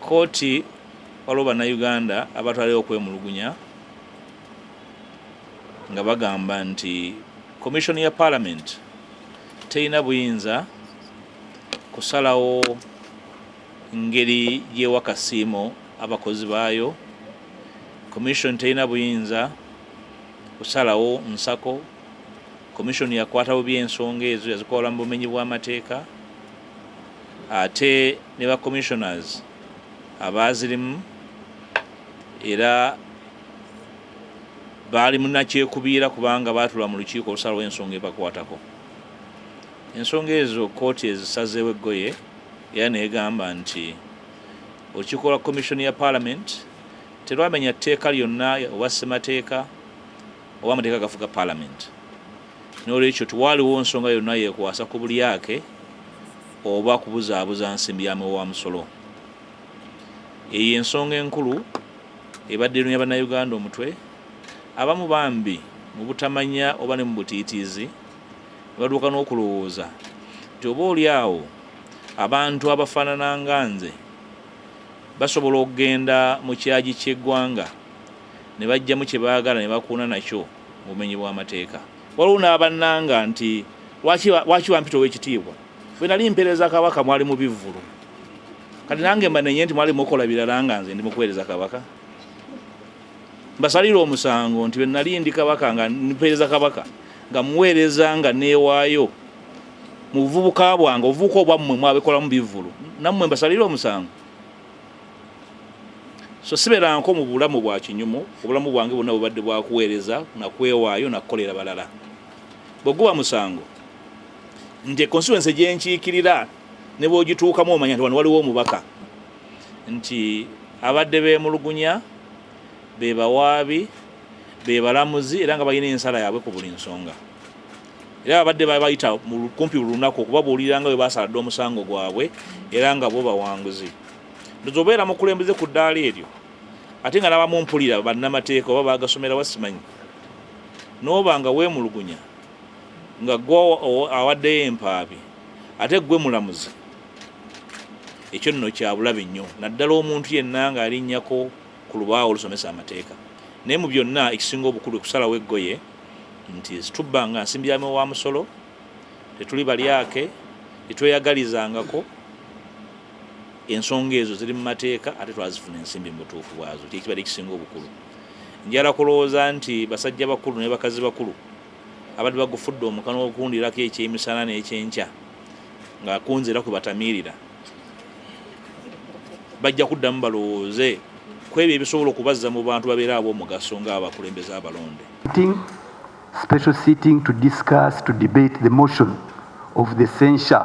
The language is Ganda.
Kooti waliwo bannayuganda abatwalayo okwemulugunya nga bagamba nti komishoni ya paalamenti terina buyinza kusalawo ngeri gyewa kasiimo abakozi baayo komishoni terina buyinza kusalawo nsako komishoni yakwata bubi ensonga ezo yazikola mu bumenyi bw'amateeka ate ne ba commissioners abaazirimu era baali munakyekubiira kubanga baatula mu lukiiko olusalawo ensonga ebakwatako ensonga ezo kooti ezisazeewo eggoye era neegamba nti olukiiko lwa komishoni ya palamenti terwamenya tteeka lyonna oba ssemateeka oba amateeka agafuga palamenti n'olwekyo tiwaaliwo nsonga yonna yekwasa ku bulyake oba kubuzaabuza nsimbi ya muwa wa musolo eyo ensonga enkulu ebadde erunya bannayuganda omutwe abamu bambi mu butamanya oba ne mu butiitiizi ne baduuka n'okulowooza nti oba oli awo abantu abafaanana nga nze basobola okugenda mu kyagi ky'eggwanga ne bajjamu kye baagala ne bakuuna nakyo mu bumenyi bw'amateeka. Waliwo n'abannanga nti lwaki bampita ow'ekitiibwa, bwe nali mpeereza Kabaka mwali mu bivvulu, kati nange mbanenye nti mwali mukola birala nga nze ndi mu kuweereza Kabaka? Mbasalira omusango nti bwe nali ndi Kabaka nga mpeereza Kabaka nga muweereza nga neewaayo mu buvubuka bwange, obuvubuka obwammwe mwabikolamu bivvulu, nammwe mbasalira omusango? so siberanko mu bulamu bwa kinyumu obulamu bwange bwonna bubadde bwakuweereza na kwewaayo na kukolera balala bwe guba musango nti constituency gyenkiikirira ne bwogituukamu omanya nti wano waliwo omubaka nti abadde beemulugunya be bawaabi be balamuzi era nga balina ensala yaabwe ku buli nsonga era abadde babayita kumpi buli lunaku okubabuulira nga bwe basaladde omusango gwabwe era nga bo bawanguzi ndoza obeera mukulembeze ku ddaala eryo ate nga nabamu mpulira bannamateeka oba bagasomera wasimanyi nooba nga weemulugunya nga gwe awaddeyo empaabi ate gwe mulamuzi ekyo nno kyabulabe nnyo naddala omuntu yenna nga alinnyako ku lubaawo olusomesa amateeka naye mu byonna ekisinga obukulu ekusalawo eggoye nti zitubba nga nsimbi yame wa musolo tetuli balyake tetweyagalizangako ensonga ezo ziri mu mateeka ate twazifuna ensimbi mu butuufu bwazo kyekiba ekisinga obukulu njala kulowooza nti basajja bakulu ne bakazi bakulu abadde bagufudde omukano okundirako ekyemisana n'ekyenkya nga kunze era kwe batamiirira bajja kuddamu balowooze ku ebyo ebisobola okubazza mu bantu babeera ab'omugaso ng'abakulembeze abalonde special sitting to discuss to debate the motion of the censure